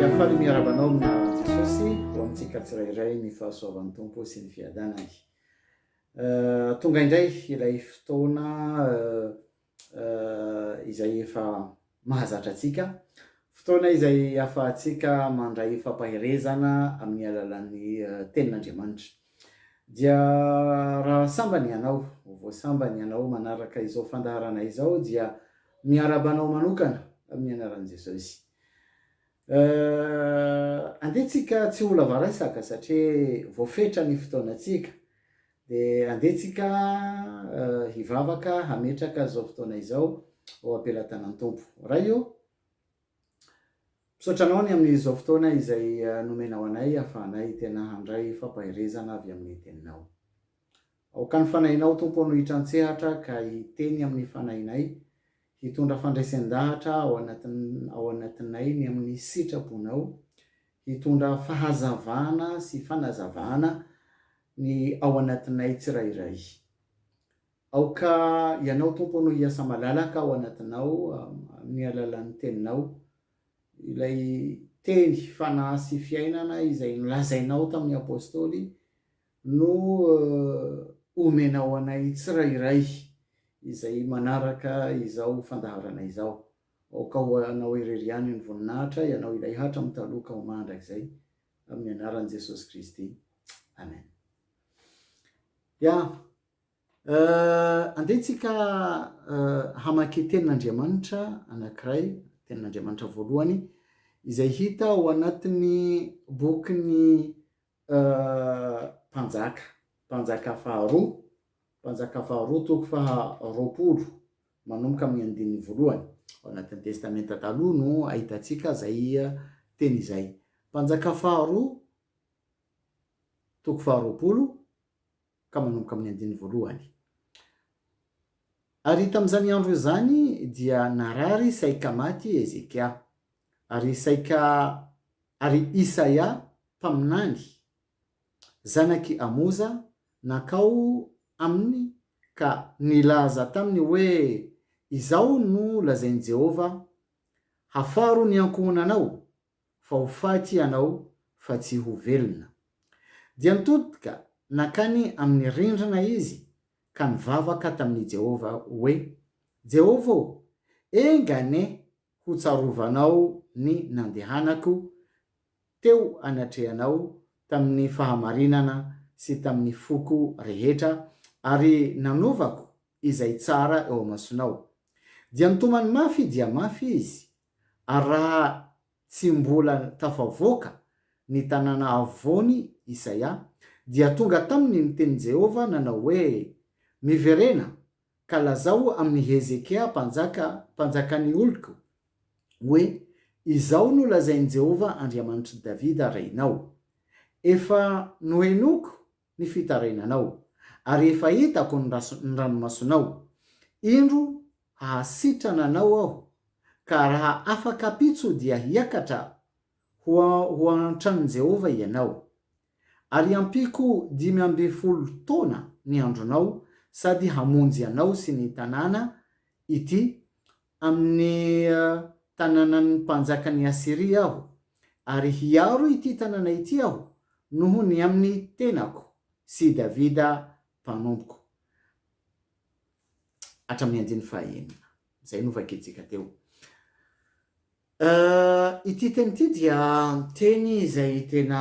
Dia faly miarahaba anao amina Jesosy ho amintsika tsirairay ny fahasoavan'ny Tompo sy ny fiadanany. Tonga indray ilay fotoana izay efa mahazatra antsika, fotoana izay ahafahantsika mandray fampaherezana amin'ny alalan'ny Tenin'Andriamanitra. Dia raha sambany ianao, ho voasambany ianao manaraka izao fandaharana izao, dia miarahaba anao manokana amin'ny anaran'i Jesosy. Euh, andeha tsika tsy ho lava resaka satria voafetra ny fotoanantsika. Dia andeha tsika euh, hivavaka hametraka izao fotoana izao ao am-pelatanan'ny Tompo. Ray o, misaotra anao ny amin'izao fotoana izay euh, nomenao anay ahafahanay tena handray fampaherezana avy amin'ny teninao. Aoka ny fanahinao, Tompo ô, no hitran-tsehatra ka hiteny amin'ny fanahinay, hitondra fandresen-dahatra ao ao anatinay ny amin'ny sitrapon-ao, hitondra fahazavana sy fanazavana ny ao anatinay tsirairay. Aoka Ianao, Tompo ô, no hiasa malalaka ao anatinao amin'ny alalan'ny Teninao, ilay Teny, Fanahy sy Fiainana izay nolazainao tamin'ny Apôstôly, no omena ho anay tsirairay izay manaraka izao fandaharana izao. Aoka ho Anao irery ihany ny voninahitra, Ianao ilay hatramin'ny taloha ka ho mandrakizay, amin'ny anaran'i Jesosy Kristy. Amen. Ya. Andeha tsika hamaky tenin'Andriamanitra anankiray, tenin'Andriamanitra voalohany, izay hita ao anatin'ny bokin'ny Mpanjaka, Mpanjaka faharoa, Mpanjaka faharoa toko faha roapolo manomboka amin'ny andininy voalohany. Ao anatin'ny Testamenta Taloha no ahitantsika izay teny izay. Mpanjaka faharoa, toko faha roapolo. ka manomboka amin'ny andininy voalohany. Ary tamin'izany andro izany dia narary saika maty i Hezekia, ary saika ary Isaia mpaminany, zanak'i Amoza, nankao aminy ka nilaza taminy hoe, Izao no lazain'i Jehovah, Hafaro ny ankohonanao, fa ho faty ianao fa tsy ho velona. Dia nitodika nankany amin'ny rindrina izy ka nivavaka tamin'i Jehovah hoe, Jehovah ô, enga anie hotsarovanao ny nandehanako teo anatrehanao tamin'ny fahamarinana sy tamin'ny foko rehetra ary nanaovako izay tsara eo amasonao. Dia nitomany mafy dia mafy izy Ary raha tsy mbola tafavoaka ny tanàna havoany Isaia, dia tonga taminy ny tenin'i Jehovah nanao hoe, Miverena, ka lazao amin'i Hezekia mpanjaka, mpanjakan'ny oloko, hoe, Izao no lazain'i Jehovah Andriamanitr'i Davida renao, Efa nohenoiko ny fitarainanao, ary efa hitako ny ranomasonao. Indro hahasitrana anao aho, ka raha afa-kapitso dia hiakatra ho an-tranon'i Jehovah ianao. Ary hampiako dimy ambin'ny folo taona ny andronao sady hamonjy anao sy ny tanàna ity amin'ny tanànan'ny mpanjakan'i Asyria aho, ary hiaro ity tanàna ity aho noho ny amin'ny tenako sy i Davida mpanompoko. Hatramin'ny andininy fahaenina. Izay novakintsika teo. Ity teny ity dia teny izay tena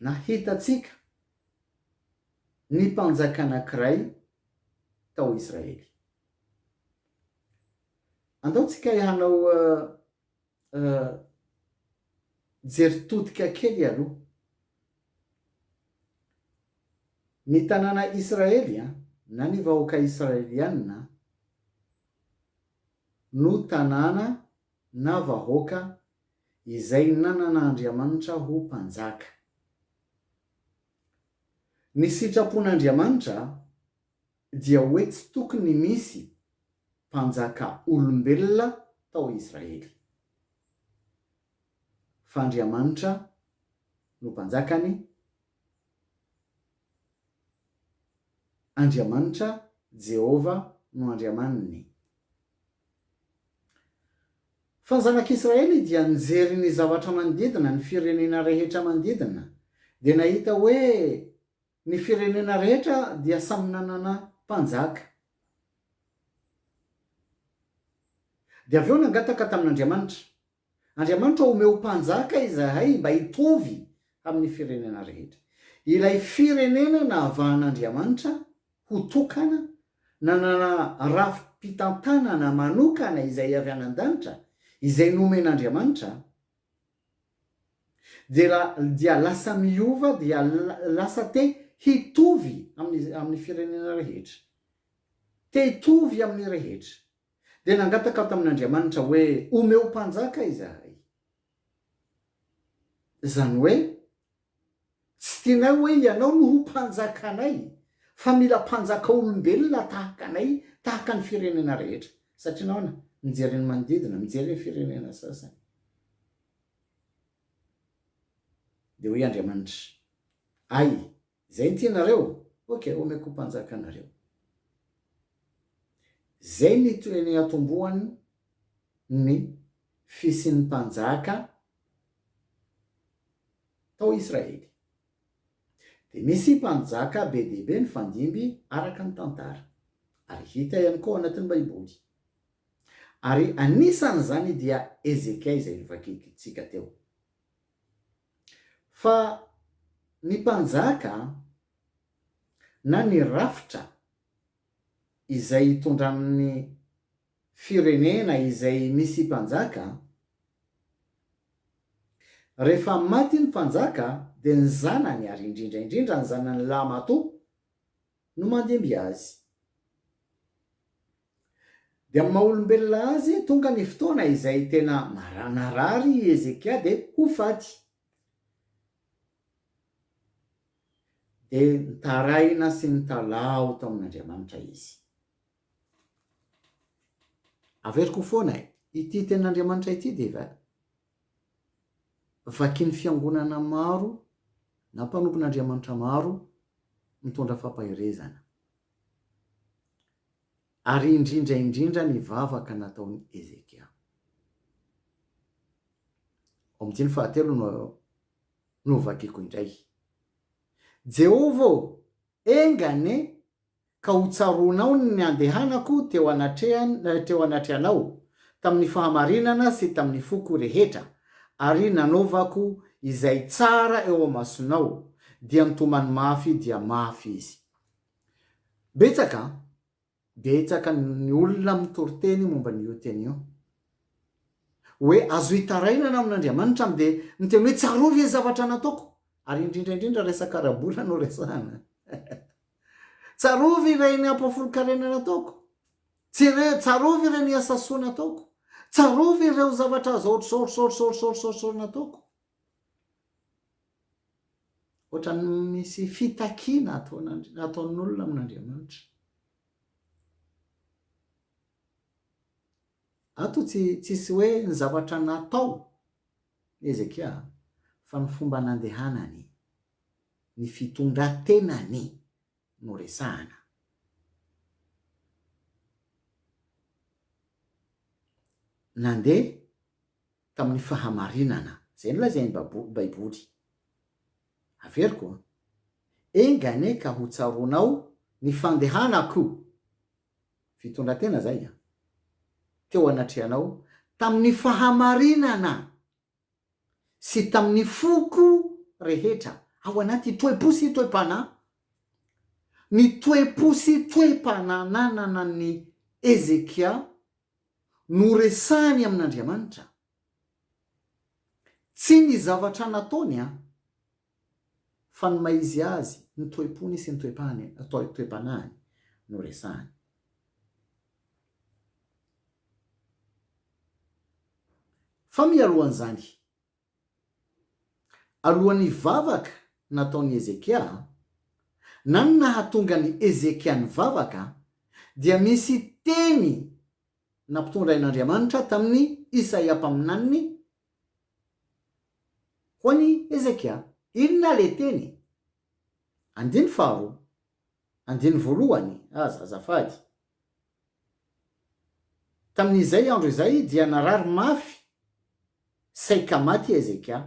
Na hitantsika ny mpanjaka anankiray tao Israely. Andaontsika hanao jery todika kely aloha. Ny tanàna Israely na ny vahoaka Israeliana no tanàna na vahoaka izay nanana Andriamanitra ho mpanjaka. Ny sitrapon'Andriamanitra dia hoe tsy tokony misy mpanjaka olombelona tao Israely, fa Andriamanitra no mpanjakany, Andriamanitra, Jehovah, no Andriamaniny. Fa ny zanak'Israely dia nijery ny zavatra manodidina, ny firenena rehetra manodidina, dia nahita hoe ny firenena rehetra dia samy nanana mpanjaka. Dia avy eo nangataka tamin'Andriamanitra, Andriamanitra omeo mpanjaka izahay mba hitovy amin'ny firenena rehetra. Ilay firenena nahavahan'Andriamanitra ho tokana, nanana rafi-pitantanana manokana izay avy any an-danitra, izay nomen'Andriamanitra, dia dia lasa miova, dia lasa te hitovy amin'ny amin'ny firenena rehetra. Te hitovy amin'ny rehetra. dia nangataka aho tamin'Andriamanitra hoe, Omeo mpanjaka izahay. Izany hoe, tsy tianay hoe ianao no ho mpanjakanay, fa mila mpanjaka olombelona tahaka anay, tahaka ny firenena rehetra. Satria nahoana? Mijery ny manodidina, mijery ny firenena sasany. Dia hoy Andriamanitra, Hay, Zay tianareo? Ok omeko mpanjaka anareo. Zay ny toeniatombohan ny fisian'ny mpanjaka tao Israely. Dia misy mpanjaka be dia be nifandimby araka ny tantara. Ary hita ihany koa ao anatin'ny baiboly. Ary anisan'izany dia Hezekia izay novakintsika teo. Fa ny mpanjaka an, na ny rafitra izay hitondran'ny firenena izay misy mpanjaka an, rehefa maty ny mpanjaka dia ny zanany ary indrindra indrindra ny zanany lahy matoa no mandimby azy. Dia amin'ny maha olombelona azy, tonga ny fotoana izay tena marana rary i Hezekia dia ho faty. Dia nitaraina sy nitalaho tao amin'Andriamanitra izy. Averiko foana e! Ity tenin'Andriamanitra ity dia vakin'ny fiangonana maro na mpanompon'Andriamanitra maro mitondra fampaherezana. Ary indrindra indrindra ny vavaka nataon'i Hezekia. Omdiny fahatelo no no vakiako indray. Jehovah ô, enga anie ka hotsaroanao ny niandehanako teo anatrehan teo anatrehanao tamin'ny fahamarinana sy tamin'ny foko rehetra, ary nanaovako izay tsara eo amasonao, dia nitomany mafy dia mafy izy. Betsaka an! Betsaka ny olona mitoriteny momba an'io teny io. Hoe azo hitarainana amin'Andriamanitra an! Dia miteny hoe tsarovy ilay zavatra nataoko! Ary indrindra indrindra resaka ara-bola no resahana. Tsarovy ireny ampahafolon-karena nataoko! Tsarovy ireny asa soa nataoko! Tsarovy ireo zavatra azo aotr'izao, ohatr'izao, ohatr'izao, ohatr'izao, ohatr'izao, ohatr'izao nataoko! Ohatran'ny misy fitakiana ataon'Andri- ataon'olona amin'Andriamanitra. Ato tsy tsisy hoe ny zavatra natao i Hezekia fa ny fomba nandehanany, ny fitondran-tenany no resahana. Nandeha tamin'ny fahamarinana. Izay nolazain'ny Babo, Baiboly. Averiko an! Enga anie ka ho tsaroanao ny fandehanako! Fitondran-tena izay an! Teo anatrehanao tamin'ny fahamarinana sy tamin'ny foko rehetra ao anaty toe-po sy toe-panahy, ny toe-po sy toe-panahy nananan'i Hezekia no resahiny amin'Andriamanitra. Tsy ny zavatra nataony an! fa ny maha izy azy, ny toe-pony sy ny toe-panahiny no resahiny. Fa mialohan'izany, Alohan'ny vavaka nataon'i Hezekia, na ny nahatonga an'i Hezekia nivavaka, dia misy teny nampitondrain'Andriamanitra tamin'i Isaia mpaminaniny ho an'i Hezekia. Inona ilay teny? Andininy faharoa, andininy voalohany aza azafady. Tamin'izay andro izay dia narary mafy saika maty i Hezekia.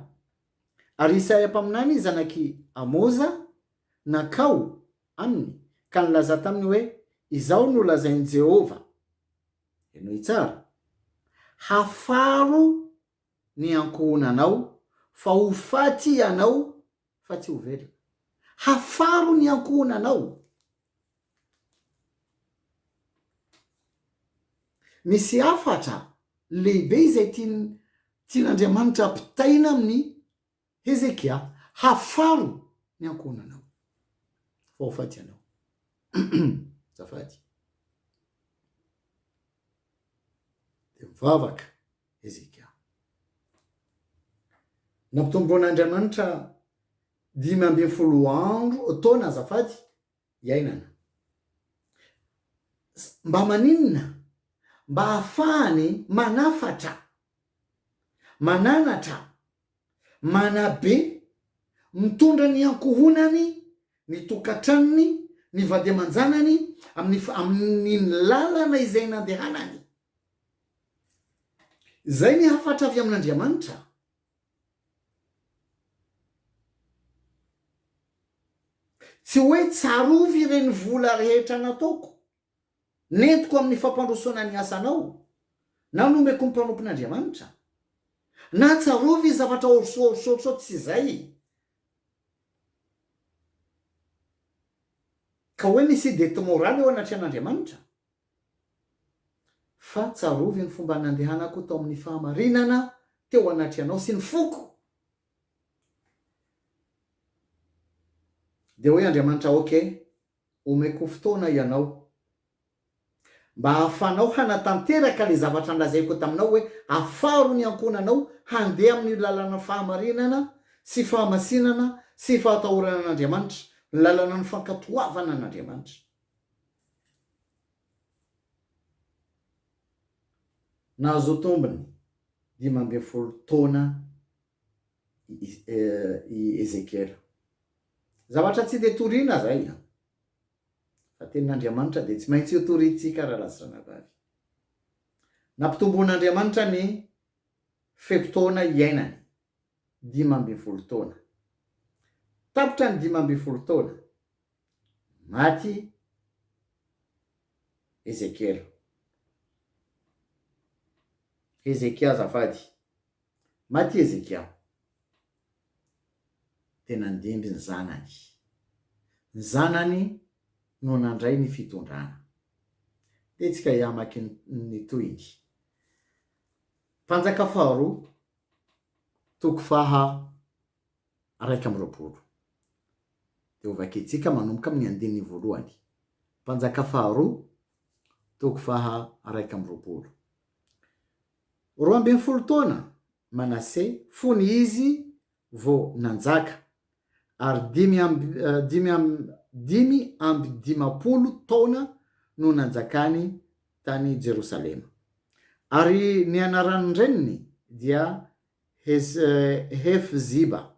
Ary Isaia mpaminany zanak'i Amoza nankao aminy ka nilaza taminy hoe, Izao no lazain'i Jehovah, henoy tsara, Hafaro ny ankohonanao, fa ho faty ianao fa tsy ho velona. Hafaro ny ankohonanao. Misy hafatra lehibe izay tiany tian'Andriamanitra hampitaina amin'i Hezekia, hafaro ny ankohonanao fa ho faty ianao. Azafady. Dia mivavaka. Hezekia. Nampitomboin'Andriamanitra dimy ambin'ny folo andro, taona azafady, iainana. Mba maninona? Mba hahafahany manafatra, mananatra Manabe, mitondra ny ankohonany, ny tokantranony, ny vady aman-janany amin'ny amin'ny lalana izay nandehanany. Izay ny hafatra avy amin'Andriamanitra. Tsy hoe tsarovy ireny vola rehetra nataoko, Nentiko amin'ny fampandrosoana ny asanao, na nomeko ny mpanompon'Andriamanitra, na tsarovy ny zavatra horosohorosohorosoa tsy izay, ka hoe misy idée tsy moraly eo anatrehan'Andriamanitra, fa tsarovy ny fomba nandehanako tao amin'ny fahamarinana teo anatrehanao sy ny foko. Dia hoy Andriamanitra, Ok. Omeko fotoana ianao mba hahafahanao hanatanteraka ilay zavatra nolazaiko taminao hoe afaro ny ankohonanao handeha amin'io lalan'ny fahamarinana sy fahamasinana sy fahatahorana an'Andriamanitra, ny lalanan'ny fankatoavana an'Andriamanitra. Nahazoa tombony dimy ambin'ny folo taona i Ezekiela. Zavatra tsy dia toriana izay an! Fa tenin'Andriamanitra dia tsy maintsy ho toriantsika raha lasa zanavavy. Nampitomboin'Andriamanitra ny fe-potoana iainany, dimy ambin'ny folo taona. Tapitra ny dimy ambin'ny folo taona, maty Ezekiela. Hezekia azafady. Maty i Hezekia, dia nandimby ny zanany. Ny zanany no nandray ny fitondrana. Dia tsika hiamaky ny tohiny. Mpanjaka faharoa, toko faha iraika amby roapolo. Dia hovakintsika manomboka amin'ny andininy voalohany. Mpanjaka faharoa, toko faha iraika amby roapolo. Roa ambin'ny folo taona Manase fony izy vao nanjaka, ary dimy amby dimy amby dimy amby dimampolo taona no nanjakany tany Jerosalema. Ary ny anaran'ny reniny dia Hez Hefziba.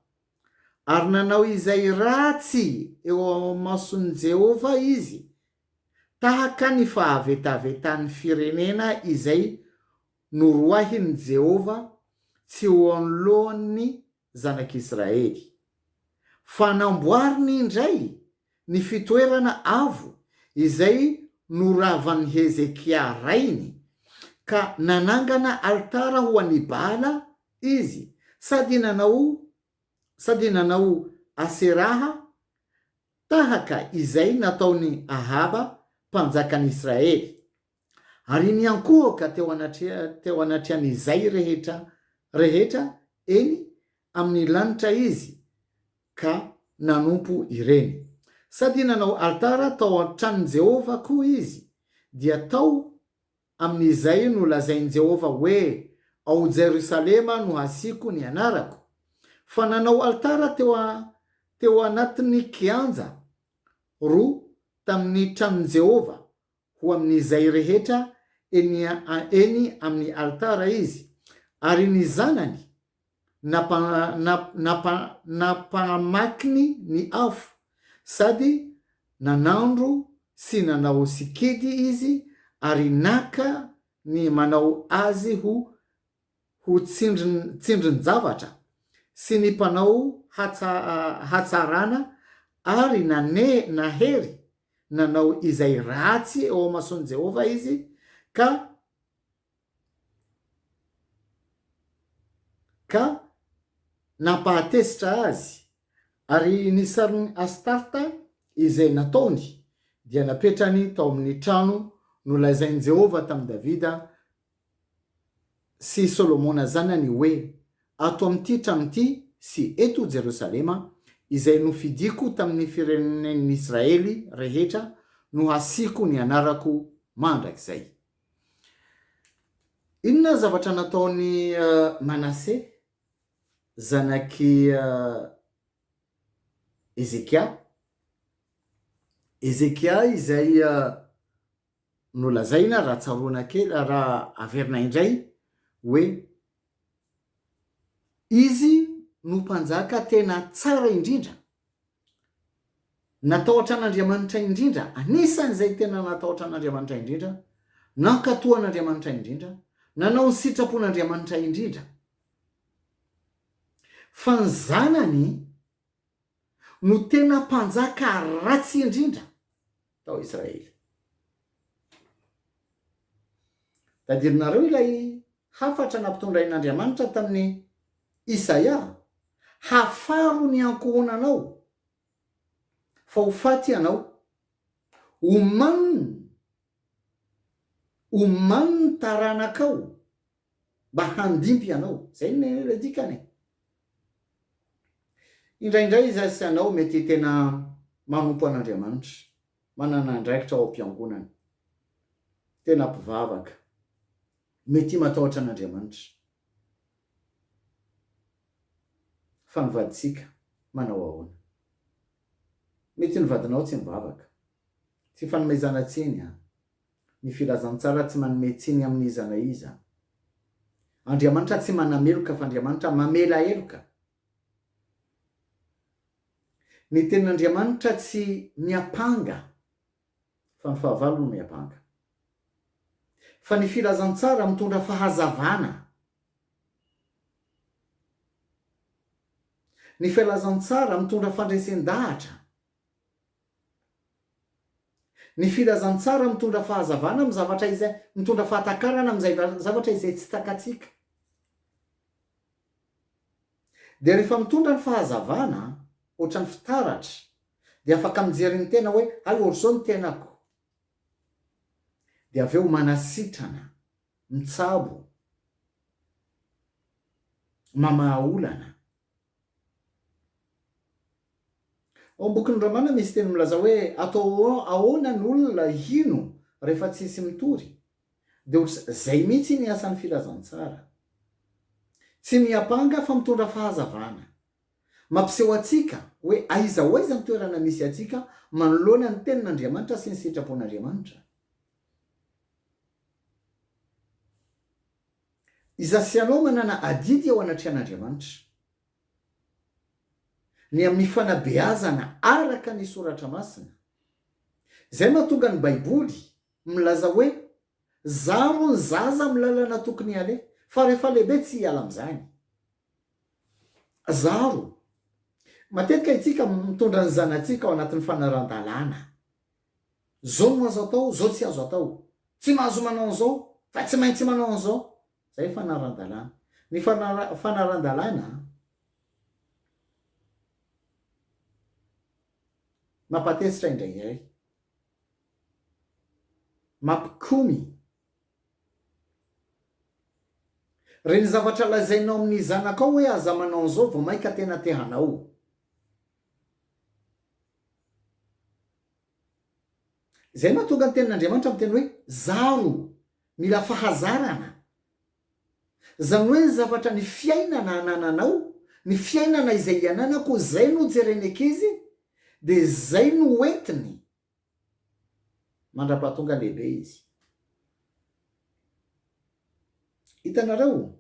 Ary nanao izay ratsy eo mason'i Jehovah izy Tahaka ny fahavetavetan'ny firenena izay noroahin'i Jehovah tsy ho anoloan'ny zanak'Israely. Fanamboariny indray ny fitoerana avo izay noravan'i Hezekia rainy, ka nanangana alitara ho an'i Baala izy, sady nanao sady nanao Aseraha tahaka izay nataon'i Ahaba mpanjakan'Israely, ary niankohoka teo anatrehan'izay rehetra rehetra eny amin'ny lanitra izy ka nanompo ireny. Sady nanao alitara tao an-tranon'i Jehovah koa izy, dia tao Amin'izay no lazain'i Jehovah hoe, Ao Jerosalema no hasiako ny anarako. Fa nanao alitara teo teo anatin'ny kianja roa tamin'ny tranon'i Jehovah ho amin'izay rehetra eny eny amin'ny alitara izy, ary ny zanany nampahamakiny ny afo sady nanandro sy nanao sikidy izy ary naka ny manao azy ho ho tsindrin-javatra sy ny mpanao hatsarana ary nahery nanao izay ratsy eo amason'i Jehovah izy ka ka nampahatezitra azy, ary ny sarin'i Astarta izay nataony dia napetrany tao amin'ny trano nolazain'i Jehovah tamin'i Davida sy Solomona zanany hoe, Ato amin'ity trano ity sy eto Jerosalema, izay nofidiko tamin'ny firenen'Israely rehetra, no hasiako ny anarako mandrakizay. Inona ny zavatra nataon'i Manase, zanak'i Hezekia? Hezekia izay nolazaina raha tsaroana kely, raha averina indray hoe izy no mpanjaka tena tsara indrindra. Natahotra an'Andriamanitra indrindra, anisan'izay tena natahotra an'Andriamanitra indrindra, nankatò an'Andriamanitra indrindra, nanao ny sitrapon'Andriamanitra indrindra. Fa ny zanany no tena mpanjaka ratsy indrindra. tao Israely. Tadirinareo ilay hafatra nampitondrain'Andriamanitra tamin'i Isaia, Hafaro ny ankohonanao, fa ho faty ianao. Omanin', omanin' ny taranakao mba handimby ianao. Izay no ilay dikany e! Indraindray izaho sy ianao mety tena manompo an'Andriamanitra, manana andraikitra ao am-piangonana, tena mpivavaka, mety matahotra an'Andriamanitra, fa ny vadintsika manao ahoana? Mety ny vadinao tsy mivavaka. Tsy ifanomezana tsiny an! Ny filazantsara tsy manome tsiny amin'iza na iza. Andriamanitra tsy manameloka fa Andriamanitra mamela heloka. Ny tenin'Andriamanitra tsy miampanga fa ny fahavalo no miampanga. Fa ny filazantsara mitondra fahazavana. Ny filazantsara mitondra fandresen-dahatra. Ny filazantsara mitondra fahazavana amin'ny zavatra izay, mitondra fahatakarana amin'izay zavatra izay tsy takatsika. Dia rehefa mitondra ny fahazavana, ohatran'ny fitaratra, dia afaka mijery ny tena hoe, hay ohatr'izao ny tenako. Dia avy eo manasitrana, mitsabo, mamaha olana, Ao amin'ny bokin'i Romana misy teny milaza hoe atao ahoana ny olona hino rehefa tsisy mitory? Dia ohatr zay mihitsy iny asan'ny filazantsara. Tsy miampanga fa mitondra fahazavana. Mampiseho antsika hoe aiza ho aiza ny toerana misy antsika manoloana ny tenin'Andriamanitra sy ny sitrapon'Andriamanitra. I Zasianao manana adidy eo anatrehan'Andriamanitra. Ny amin'ny fanabeazana araka ny Soratra Masina. Izay mahatonga ny Baiboly milaza hoe, Zaro ny zaza amin'ny lalana tokony haleha, fa rehefa lehibe tsy hiala amin'izany. Zaro. Matetika isika mitondra ny zanatsika ao anatin'ny fanarahan-dalàna. Zao no azo atao, zao tsy azo atao. Tsy mahazo manao an'izao, fa tsy maintsy manao an'izao. Izay fanaran-dalàna. Ny fanaran-dalàna mampatezitra indraindray, mampikomy. Re ny zavatra lazainao amin'ny zanakao hoe aza manao an'izao vao mainka tena te hanao. Izay mahatonga ny tenin'Andriamanitra miteny hoe zaro, mila fahazarana. Izany hoe ny zavatra ny fiainana anananao, ny fiainana izay iananako izay no jeren'ny ankizy dia izay no hoentiny mandrapahatonga lehibe izy. Hitanareo?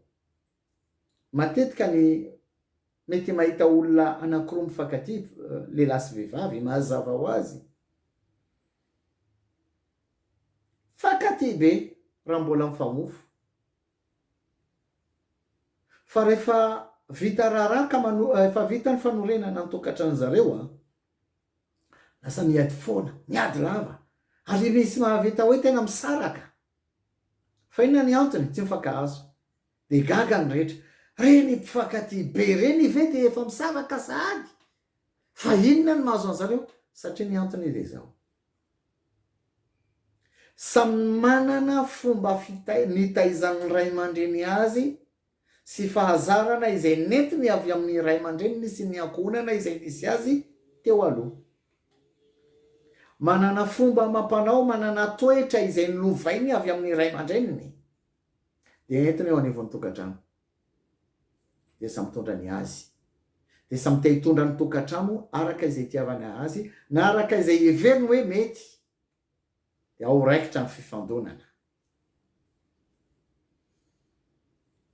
Matetika ny mety mahita olona anankiroa mifankatia, lehilahy sy vehivavy, mazava ho azy fa katia be raha mbola mifamofo. Fa rehefa vita raharaha ka mano, efa vita ny fanorenana ny tokantranony zareo, lasa miady foana, miady lava, ary misy mahavita hoe tena misaraka. Fa inona ny antony? Tsy mifankahazo. Dia gaga ny rehetra. Reny mpifankatia be reny ve dia efa misaraka sahady? Fa inona no mahazo anzareo? Satria ny antony anie dia izao. Samy manana fomba fitaizana, nitaizan'ny ray aman-dreny azy sy fahazarana izay nentiny avy amin'ny ray aman-dreniny sy ny ankohonana izay nisy azy teo aloha. Manana fomba amam-panao, manana toetra izay nolovainy avy amin'ny ray aman-dreniny. Dia entiny eo anivon'ny tokantrano. Dia samy mitondra ny azy. Dia samy te hitondra ny tokantrano araka izay itiavany azy na araka izay heveriny hoe mety. Dia ao raikitra ny fifandonana.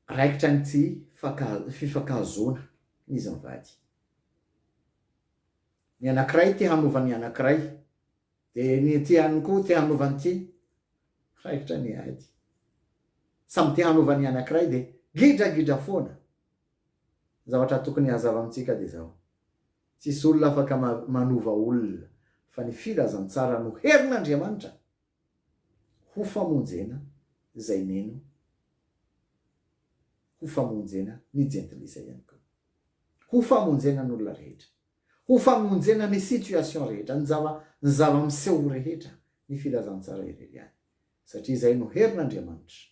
Raikitra ny tsy fifankahazoana izy mivady. Ny anankiray te hanova ny anankiray. Dia ny ity ihany koa te hanova an'ity, raikitra ny ahy ity. Samy te hanova ny anankiray dia gidragidra foana. Ny zavatra tokony hazava amintsika dia izao, tsisy olona afaka manova olona fa ny filazantsara no herin'Andriamanitra ho famonjena izay mino ho famonjena ny jentilisa ihany koa. Ho famonjena ny olona rehetra. ho famonjena ny situation rehetra, ny zava, ny zava-miseho ho rehetra, ny filazantsara irery ihany. Satria izay no herin'Andriamanitra.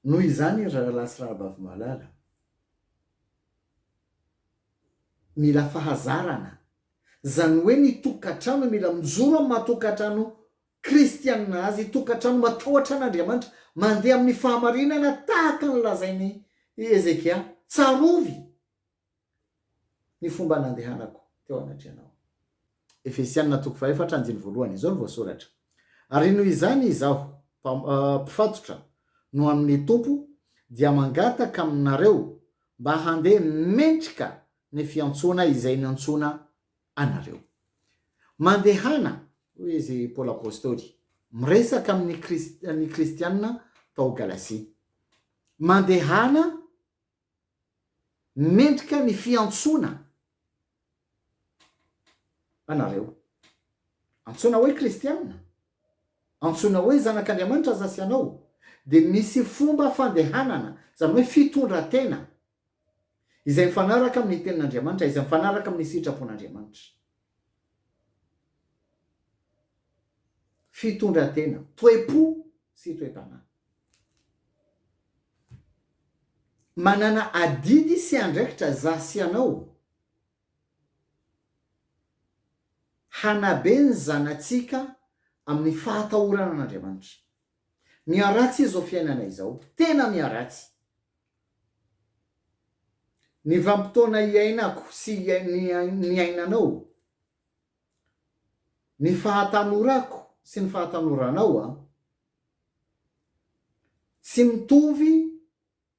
Noho izany ry rahalahy sy rahavavy malala, mila fahazarana, izany hoe ny tokantrano mila mijoro amin'ny maha tokantrano Kristianina azy, tokantrano matahotra an'Andriamanitra, mandeha amin'ny fahamarinana tahaka ny lazain'i Hezekia, Tsarovy ny fomba nandehanako teo anatrehanao. Efesianina toko fahefatra andininy voalohany, izao no voasoratra, Ary noho izany izaho, mpifatotra, no amin'ny Tompo, dia mangataka aminareo mba handeha mendrika ny fiantsoana izay niantsoana anareo. Mandehana, hoy izy Paoly Apostoly, miresaka amin'ny ny kristianina tao Galasia. Mandehana mendrika ny fiantsoana anareo. Antsoina hoe kristianina, antsoina hoe zanak'Andriamanitra aza sy ianao, dia misy fomba fandehanana, izany hoe fitondran-tena izay mifanaraka amin'ny Tenin'Andriamanitra, izay mifanaraka amin'ny sitrapon'Andriamanitra. Fitondran-tena, toe-po sy toe-panahy. Manana adidy sy andraikitra za sy ianao hanabe ny zanatsika amin'ny fahatahorana an'Andriamanitra. Miharatsy izao fiainana izao. Tena miharatsy. Ny vanim-potoana iainako sy niainanao, ny fahatanorako sy ny fahatanoranaoa, tsy mitovy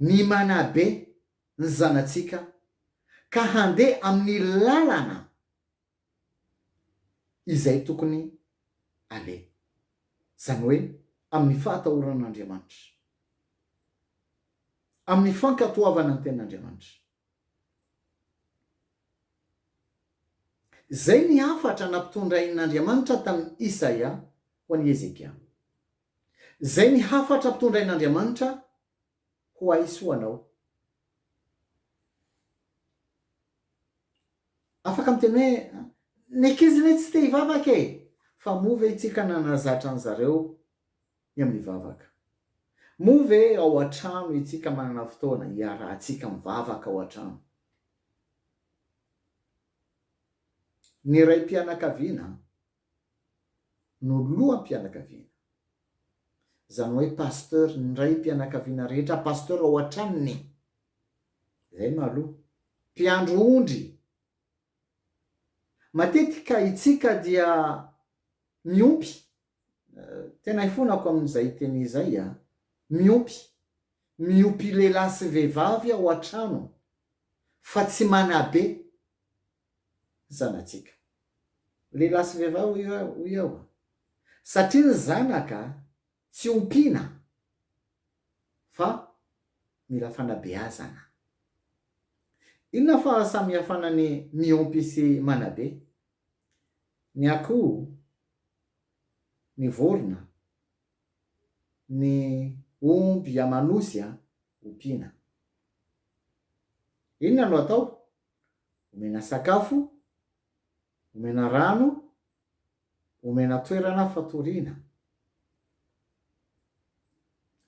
ny manabe ny zanatsika ka handeha amin'ny lalana izay tokony aleha, izany hoe amin'ny fahatahoran'Andriamanitra, amin'ny fankatoavana ny tenin'Andriamanitra. Izay ny hafatra nampitondrain'Andriamanitra tamin'i Isaia ho an'i Hezekia. Zay ny hafatra tondrain'Andriamanitra ho haisoanao. Afaka miteny hoe, ny ankizy ne tsy te hivavaka e! Fa moa ve itsika nanazatra an zareo ny amin'ny vavaka? Moa ve ao an-trano itsika manana fotoana hiarahantsika mivavaka ao an-trano? Ny raim-pianakaviana no loham-pianakaviana. Izany hoe pasteur ny raim-pianakaviana rehetra pasteur ao an-tranony. Izay no aloha. Mpiandry ondry. Matetika itsika dia miompy, tena ifonako amin'izay teny izay an, miompy, miopy lehilahy sy vehivavy ao an-trano fa tsy manabe. zanatsika. Lehilahy sy vehivavy hoy aho a! Satria ny zanaka tsy ompiana fa mila fanabeazana. Inona fahasamihafana ny miompy sy manabe? Ny akoho, ny vorona, ny omby aman'osy a, ompiana. Inona no atao? omena sakafo, omena rano, omena toerana fatoriana.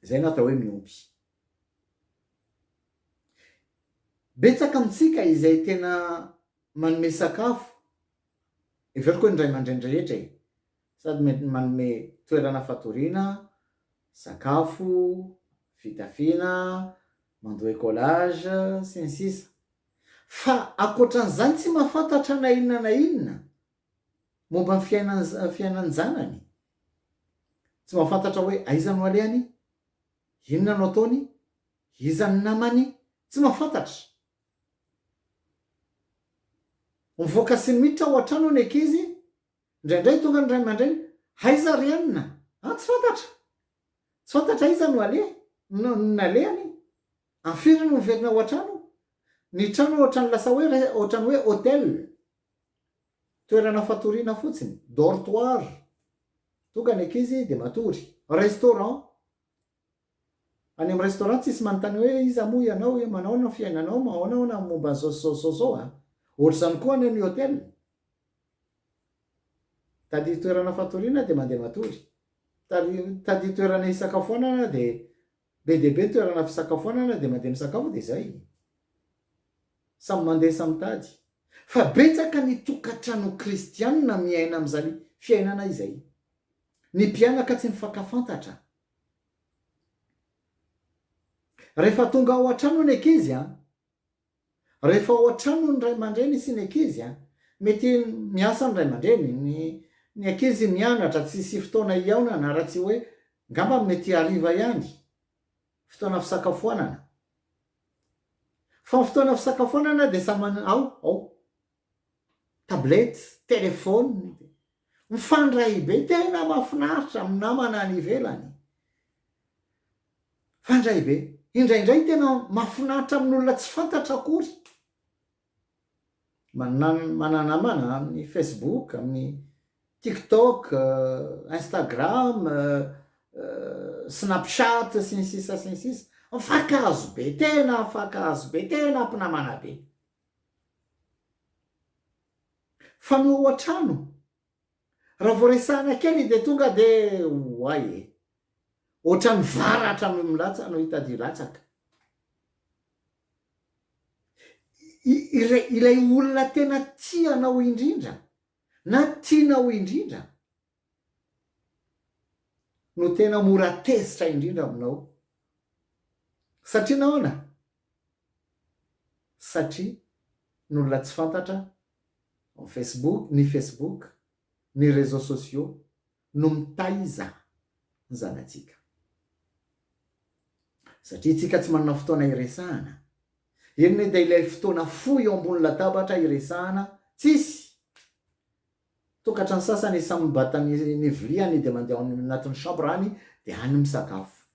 Izay no atao hoe miompy. Betsaka amintsika izay tena manome sakafo, heveriko hoe ny ray aman-dreny rehetra e, sady mety manome toerana fatoriana, sakafo, fitafiana, mandoa écolage, sy ny sisa. Fa ankoatran'izany tsy mahafantatra na inona na inona momba ny fiainan'ny fiainan-janany. Tsy mahafantatra hoe aiza no alehany, inona no ataony, iza ny namany, tsy mahafantatra. Mivoaka sy miditra ao an-trano ny ankizy, indraindray tonga ny ray aman-dreny, aiza ry anona? Ah, tsy fantatra! Tsy fantatra aiza no aleha, no nalehany. Anfiry no miverina ao an-trano? Ny trano ohatran'ny lasa hoe ohatran'ny hoe hotel. Toerana fatoriana fotsiny, dortoir, tonga ny ankizy dia matory. Restaurant, any amin'ny restaurant tsisy manontany hoe iza moa ianao hoe manao ahoana ny fiainanao, manao ahoana momba an'izao sy izao sy izao a! Ohatr'izany koa anie ny hotel. Tadidio toerana fatoriana dia mandeha matory. Tadidio toerana hisakafoanana dia Be dia be ny toerana fisakafoanana dia mandeha misakafo dia izay. Samy mandeha samy mitady. Fa betsaka ny tokantrano kristianina miaina amin'izany fiainana izay. Ny mpianaka tsy mifankafantatra. Rehefa tonga ao an-trano ny ankizy an! Rehefa ao an-trano ny ray aman-dreny sy ny ankizy, mety miasa ny ray aman-dreny, ny ny ankizy mianatra, tsy hisy fotoana hihaonana raha tsy hoe ngamba mety hariva ihany, fotoana fisakafoanana. Fa ny fotoana fisakafoanana dia samy manana, ao, ao. tablette, telephone, mifandray be, tena mafinaritra amin'ny namana any ivelany, mifandray be, indraindray tena mafinaritra amin'olona tsy fantatra akory, mananamana amin'ny facebook, amin'ny tiktok, instagram, snapchat sy ny sisa sy ny sisa, mifankahazo be, tena mifankahazo be, tena mpinamana be. Fa ny ao an-trano, raha vao resahina kely dia tonga dia oay e! Ohatran'ny varatra no milatsaka, no hitadio latsaka. Ilay olona tena tia anao indrindra na tianao indrindra no tena mora tezitra indrindra aminao. Satria nahoana? Satria ny olona tsy fantatra ao Facebook, ny Facebook, ny réseaux sociaux no mitaiza ny zanatsika. Satria itsika tsy manana fotoana iresahana. Eny dia ilay fotoana fohy eo ambony latabatra iresahana tsisy. Tokatran'ny sasany samy mibata ny ny viliany dia mandeha ao any anatin'ny chambre any dia any misakafo.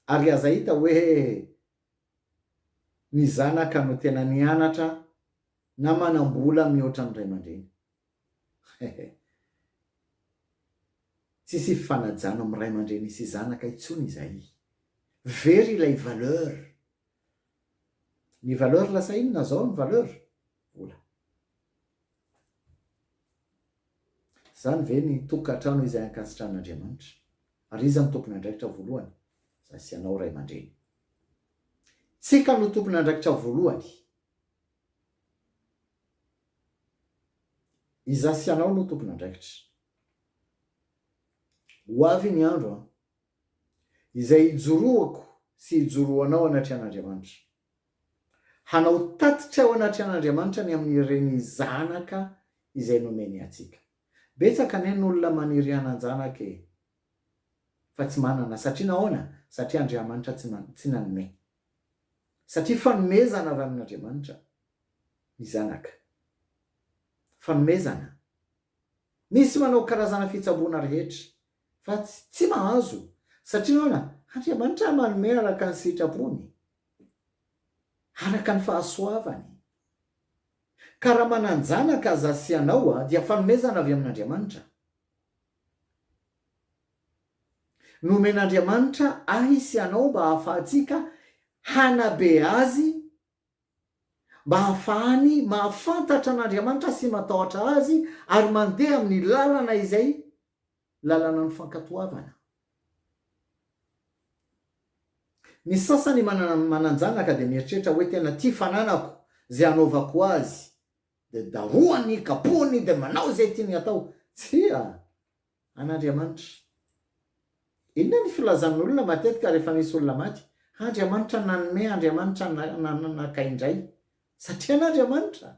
Ary aza hita hoe ny zanaka no tena nianatra na manam-bola mihoatra ny ray aman-dreny. Hehe. Tsisy hifanajana amin'ny ray aman-dreny sy zanaka intsony izay. Very ilay valeur. Ny valeur lasa inona zao ny valeur? Vola. Zany ve ny tokantrano izay ankasitran'Andriamanitra? Ary iza no tompon'andraikitra voalohany? Za sy ianao ray aman-dreny. Tsika no tompon'andraikitra voalohany. Iza sy ianao no tompon'andraikitra. Ho avy ny andro an. izay ijoroako sy ijoroanao anatry an'Andriamanitra. Hanao tatitra ao anatry an'Andriamanitra ny amin'ireny zanaka izay nomeny antsika. Betsaka anie ny olona maniry hanan-janaka e! fa tsy manana. Satria nahoana? Satria Andriamanitra tsy tsy nanome. Satria fanomezana avy amin'Andriamanitra ny zanaka. Fanomezana. Misy manao karazana fitsaboana rehetra Fa tsy mahazo, satria ahoana? Andriamanitra manome araka ny sitrapony, araka ny fahasoavany. Ka raha manan-janaka aza sy ianao dia fanomezana avy amin'Andriamanitra. Nomen'Andriamanitra ahy sy anao mba hahafahantsika hanabe Azy. mba hahafahany mahafantatra an'Andriamanitra sy matahotra Azy ary mandeha amin'ny lalana izay lalanan'ny fankatoavana. Ny sasany manana manan-janaka dia mieritreritra hoe tena tia fananako izay hanaovako azy dia darohany, kapohiny dia manao izay tiany hatao. Tsia! an'Andriamanitra. Inona ny filazan'olona matetika rehefa misy olona maty? Andriamanitra nanome, Andriamanitra nanaka indray. Satria an'Andriamanitra.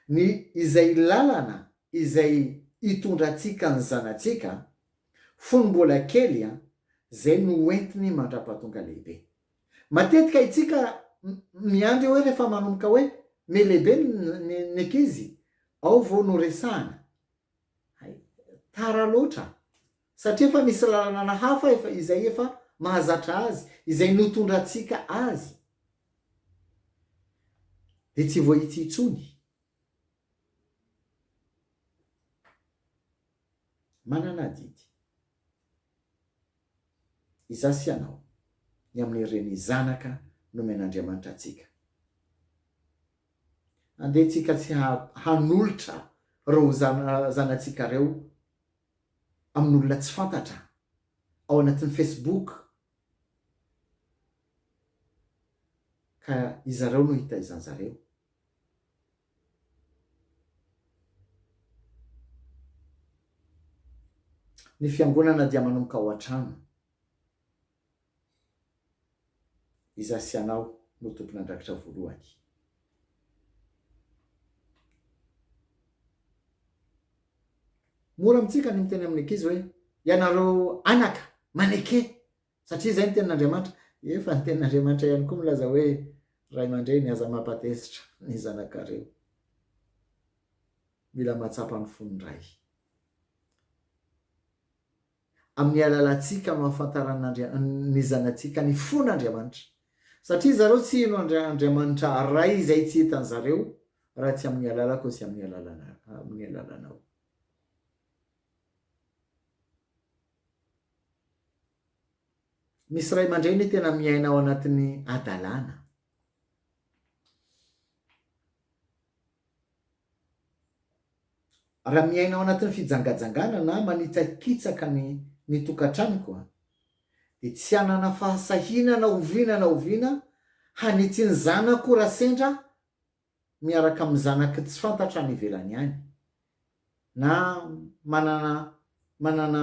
Ny izay lalana izay hitondra antsika ny zanatsika fony mbola kely, izay no hoentiny mandra-pahatonga lehibe. Matetika itsika miandry eo hoe rehefa manomboka hoe me lehibe ny ankizy ao vao no resahana. Hay, tara loatra. Satria efa misy lalanana hafa efa izay efa mahazatra azy, izay notondratsika azy. Dia tsy voahitsy intsony. Manana adidy. Izaho sy ianao, ny amin'ireny zanaka nomen'Andriamanitra antsika. Andehantsika tsy hanolotra ireo zanatsika ireo amin'olona tsy fantatra ao anatin'ny Facebook, ka izareo no hitaizan'izareo. Ny fiangonana dia manomboka ao an-trano. Izaho sy ianao no tompon'andraikitra voalohany. Mora amintsika ny miteny amin'ny ankizy hoe, Ianareo anaka, maneke Satria izay ny tenin'Andriamanitra. Efa ny tenin'Andriamanitra ihany koa milaza hoe, Ray aman-dreny, aza mampatezitra ny zanakareo. Mila mahatsapa ny fon'ny Ray. Amin'ny alalantsika no ahafantaran'Andria, ny zanatsika ny fon'Andriamanitra. Satria zareo tsy hino Andria, Andriamanitra Ray izay tsy hitan'ny zareo raha tsy amin'ny alalako sy amin'ny alalanao. Misy ray aman-dreny tena miaina ao anatin'ny hadalana. Raha miaina ao anatin'ny fijangajangana na manitsakitsaka ny ny tokantranoko dia tsy hanana fahasahiana na oviana na oviana hanitsy ny zanako raha sendra miaraka amin'ny zanaky tsy fantatra any ivelany any na manana manana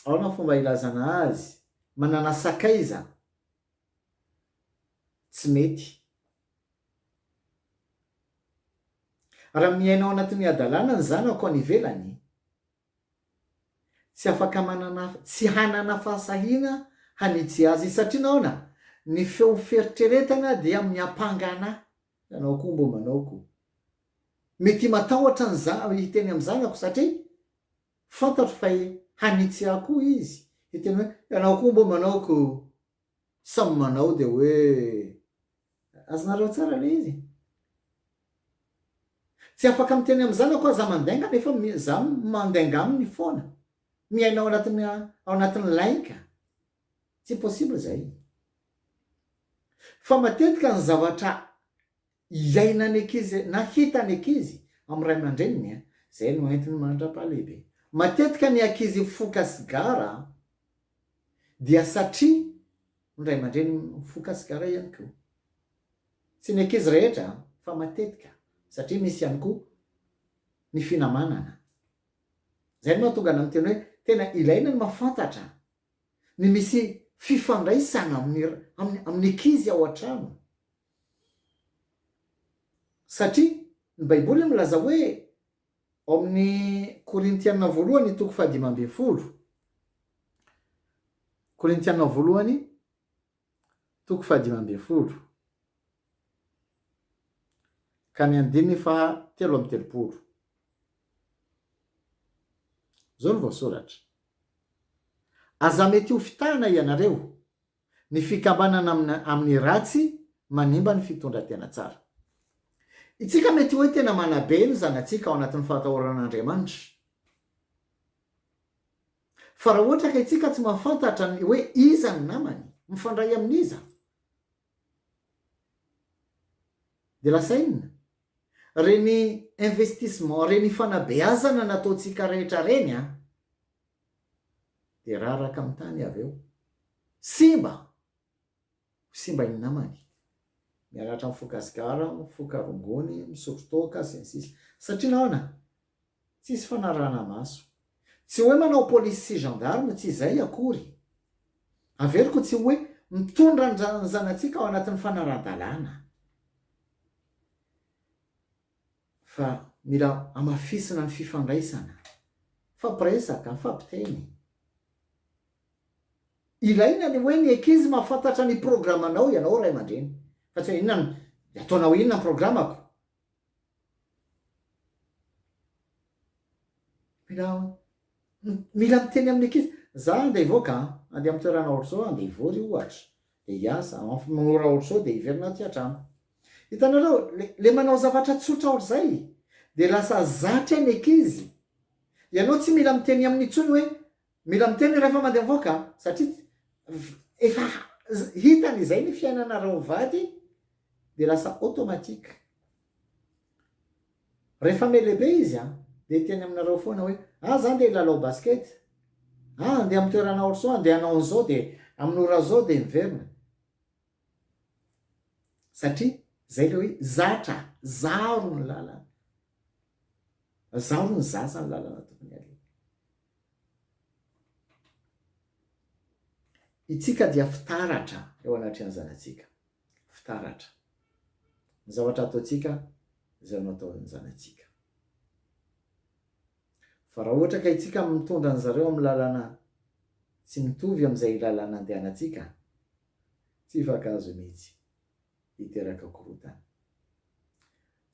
ahoana fomba hilazana azy, manana sakaiza tsy mety. Raha miaina ao anatin'ny hadalana ny zanako any ivelany, Tsy afaka manana tsy hanana fahasahiana hanitsy azy izy. Satria nahoana? Ny feo fieritreretana dia miampanga anà. Ianao koa mbo manao ko. Mety himatahotra ny za hiteny amin'ny zanako satria fantatro fa hanitsy ahy koa izy. Hiteny hoe, ianao koa mbo manao ko. Samy manao dia hoe azonareo tsara le izy. Tsy afaka miteny amin'ny zanako aza mandainga nefa za mandainga aminy foana. Miaina ao anatin'ny ao anatin'ny lainga. Tsy possible zay. Fa matetika ny zavatra Hiaina ny ankizy na hita ny ankizy amin'ny ray aman-dreniny, izay no entiny mandra-pahalehibe. Matetika ny ankizy mifoka sigara dia satria ny ray aman-dreniny mifoka sigara ihany koa. Tsy ny ankizy rehetra fa matetika satria misy ihany koa ny finamanana. Izay no mahatonga anao miteny hoe tena ilaina ny mahafantatra ny misy fifandraisana amin'ny amin'ny ankizy ao an-trano. Satria ny Baiboly milaza hoe, ao amin'ny Korintiana voalohany toko fahadimy ambin'ny folo, Korintiana voalohany toko fahadimy ambin'ny folo, ka ny andininy faha telo amby telopolo. Izao no voasoratra. Aza mety ho fitahana ianareo, Ny fikambanana amin'ny ratsy manimba ny fitondran-tena tsara. Itsika mety hoe tena manabe ny zanatsika ao anatin'ny fahatahoran'Andriamanitra. Fa raha ohatra ka itsika tsy mahafantatra ny hoe iza ny namany, mifandray amin'iza? Dia lasa inona? Reny investissement, reny fanabeazana nataontsika rehetra reny an! dia raraka amin'ny tany avy eo. Simba! Ho simba ny namany. Mianatra mifoka sigara, mifoka rongony, misotro toaka, sy ny sisa. Satria nahoana? Tsisy fanarahana-maso. Tsy hoe manao polisy sy gendarme, tsy izay akory. Averiko tsy hoe mitondra ny zanatsika ao anatin'ny fanarahan-dalàna. Fa mila hamafisina ny fifandraisana. Mifampiresaka, mifampiteny. Ilaina ny hoe ny ankizy mahafantatra ny programanao ianao ray aman-dreny. Fa tsy hoe inona no, ataonao inona ny programako. Mila Mila miteny amin'ny ankizy. Za andeha hivoaka an! Andeha amin'ny toerana ohatr'izao aho, andeha hivory ohatra, dia hiasa, amin'ny ora ohatr'izao dia hiverina aty an-trano. Hitanareo, ilay manao zavatra tsotra ohatr'izay, dia lasa zatra ny ankizy. Ianao tsy mila miteny aminy intsony hoe, mila miteny rehefa mandeha mivoaka an! Satria efa hitany izay ny fiainanareo mivady, dia lasa automatique. Rehefa me lehibe izy an, dia hiteny aminareo foana hoe, ah za ndeha hilalao basket, ah andeha amin'ny toerana ohatr'izao, andeha hanao an'izao dia amin'ny ora zao dia miverina. Satria zay ilay hoe zatra, zaro ny lalana. Zaro ny zaza ny lalana tokony aleha. Itsika dia fitaratra eo anatrehan'ny zanatsika. fitaratra ny zavatra ataontsika izay no ataon'ny zanatsika. Fa raha ohatra ka itsika no mitondra an-dry zareo amin'ny lalana tsy mitovy amin'izay lalana andehanantsika, tsy hifankahazo mihitsy, hiteraka korontana.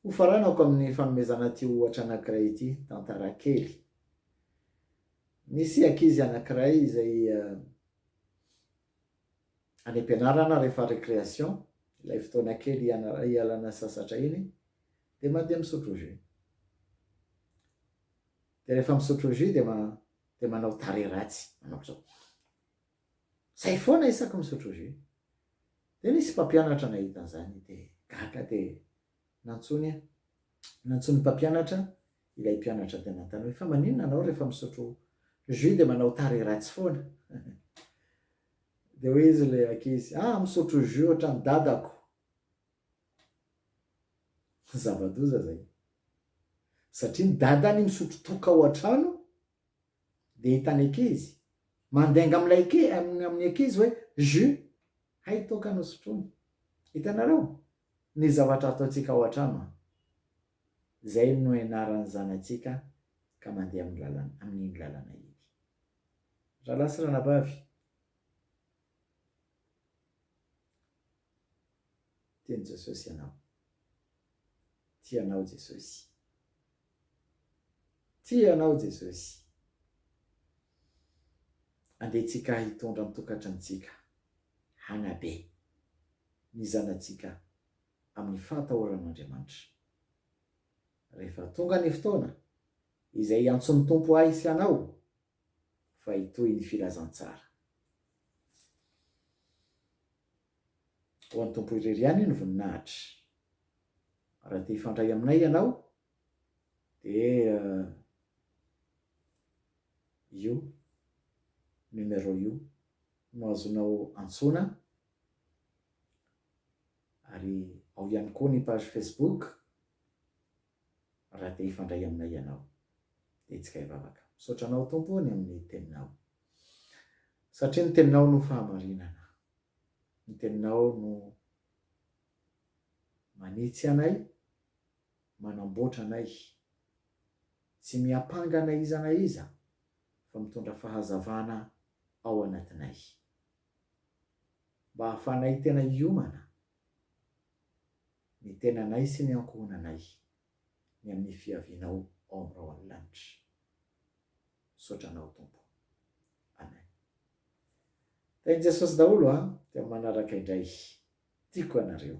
Hofaranako amin'ny fanomezana ity ohatra anankiray ity, tantara kely. Nisy ankizy anankiray izay any am-pianarana rehefa récréation, ilay fotoana kely hialana sasatra iny, dia mandeha misotro jus. Dia rehefa misotro jus dia dia manao tarehy ratsy, manao ohatran'ny izay foana isaky ny misotro jus. Dia nisy mpampianatra nahita an'izany dia gaga dia Nantsoiny aho. Nantsoin'ny mpampianatra ilay mpianatra dia nanontany hoe, Fa maninona ianao rehefa misotro jus dia manao tarehy ratsy foana? Dia hoy izy ilay ankizy, Ah, misotro jus ohatran'ny dadako. Zava-doza izay. Satria ny dadany misotro toaka ao an-trano, dia hitan'ny ankizy, mandainga amin'ilay, amin'ny ankizy hoe, Jus! Hay toaka no sotroiny. Hitanareo? Ny zavatra ataontsika ao an-trano an! Izay no ianaran'ny zanatsika ka mandeha amin'ny lalana, amin'iny lalana iny. Rahalahy sy ranabavy, tian'i Jesosy ianao. Tia anao Jesosy. Tia anao Jesosy. Andehantsika hitondra ny tokantranontsika hanabe ny zanatsika amin'ny fahatahoran'Andriamanitra. Rehefa tonga ny fotoana izay hiantson'ny Tompo ahy sy anao fa hitohy ny filazantsara. Ho an'ny Tompo irery ihany ny voninahitra. Raha te hifandray aminay ianao dia io numéro io no azonao antsoina ary ao ihany koa ny page Facebook raha te hifandray aminay ianao dia hetsika hivavaka. Misaotra anao Tompo ny amin'ny teninao satria ny teninao no fahamarinana. ny teninao no manitsy anay, manamboatra anay, tsy miampanga na iza na iza fa mitondra fahazavana ao anatinay, mba ahafanay tena hiomana ny tenanay sy ny ankohonanay. ny amin'ny fiavianao ao amin'ny Ray ao amin'ny lanitra. Misaotra anao Tompo. Amen. Tahin'i Jesosy daholo an, dia manaraka indray. Tiako ianareo.